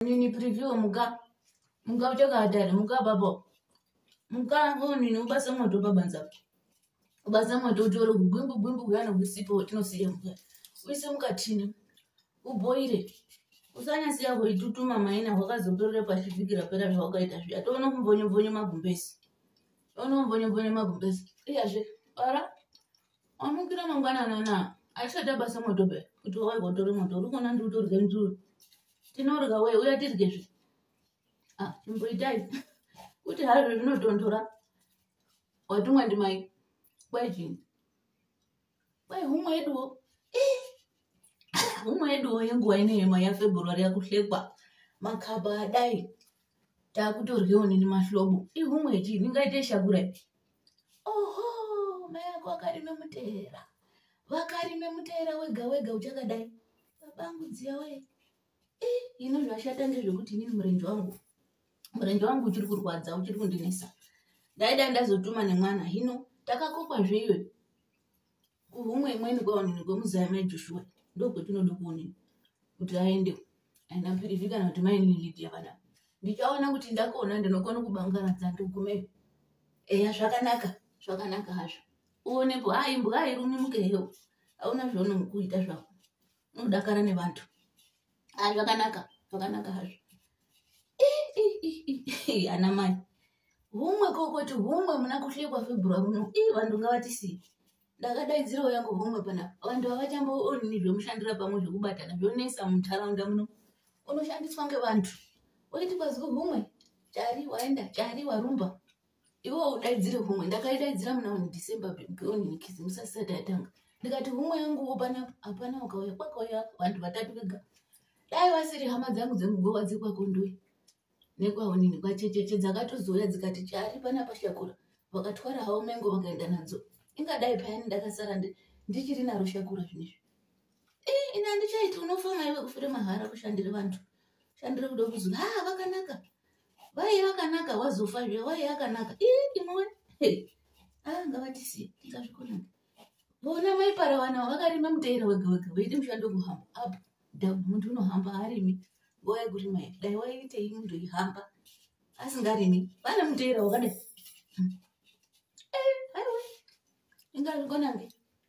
nini preview muka muka uchakatari muka babo muka nini ubasa moto pabanza ubasa moto utore kugwimbu gwimbu kuyana kusipo tinosiya muka uise mukatini uboire usanyasiya kuitutuma maina hwakazoperera pashi vhiki rapera zvawakaita zviya toona kumbonyobonyo magumbezi toona kumbonyobonyo magumbezi iyazve bara amukira mangwanana na achada basa moto be kuti wawai kotore moto uri kuona ndiri kutorya ndiri tinorya wee uya tirye zvi ah, imboitai kuti hazvo zvinotondora watumwa ndimai kwai chini kwai humwe yeduwo eh! humwe yeduwo yenguva inoyema yafebruary yakuhlekwa makaba adai takutoryewo nini mahlobo ihumwe chii ndingaite shakura oho mai ako akarime muteera vakarime muteera wega wega uchakadai babangu dziya we eh, ini zvashata ndezvekuti inini murenje wangu murenje wangu uchiri kurwadza uchiri kundinesa ndaida ndazotuma nemwana hino takakokwa zveiwe kuhumwe imweni kwaonini kwemuzaya mai joshua ndokwetinoda kuonini kuti aende and am pretty sure kana kuti mainini lidia vana ndichaona kuti ndakona ndinokona kubangaradza ndigume eya zvakanaka zvakanaka hazvo uonepo haimbwa hairumi mukeyo hauna zvaunokuita zvako unodakara nevantu a zvakanaka zvakanaka hazvo ana mai humwe kokoti humwe muna kuhlekwa february uno i vanhu ngavatisiyi ndakadaidzirawo yangu humwe panapa vanhu havachambooni zvemushandira pamwe zvekubatana zvonesa munharaunda muno unoshandiswa ngevanhu oiti kwaziko humwe chari waenda chari warumba iwo udaidzire humwe ndakaidaidzira muna one december bonikizi musasisati yatanga ndikati humwe yangu opana hapana ukauya kwakauya vanhu vatatu vega dai vasiri hama dzangu dzemugowa dzekwakondoyi nekwaonini kwachecheche dzakatozouya dzikati chari pana pashakura vakatwara havo mengo vakaenda nadzo ingadai payani ndakasara ndichiri naro shakura zvinezvi eh, ini handichaiti unofa maive kufure mahara kushandira vanhu shandira kuda kuzi ha vakanaka wai vakanaka wazofa zve wai akanaka imwe ah, ngavatisi ingazvikonaka vona mai parawana vakarima muteera wega wega veidi mushando kuhamba up down muntu unohamba arimi nguva yekurima ya dai waiitei muntu ihamba asingarimi vane muteera wakadai hmm. eh, aiwa ingazvikonake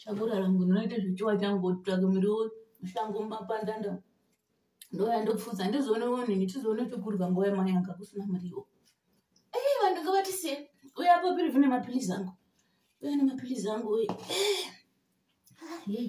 Chakura rangu ndinoita zvichiwa changu kutsvaka muriwo mushango mumapandanda ndouya ndopfuza ndizoone woni ndichizoone chokurwa nguva yamai anga kusina muriwo ei vanhu nga vatisiye uya apo piri vine mapilizi angu uya nemapilizi angu uye ei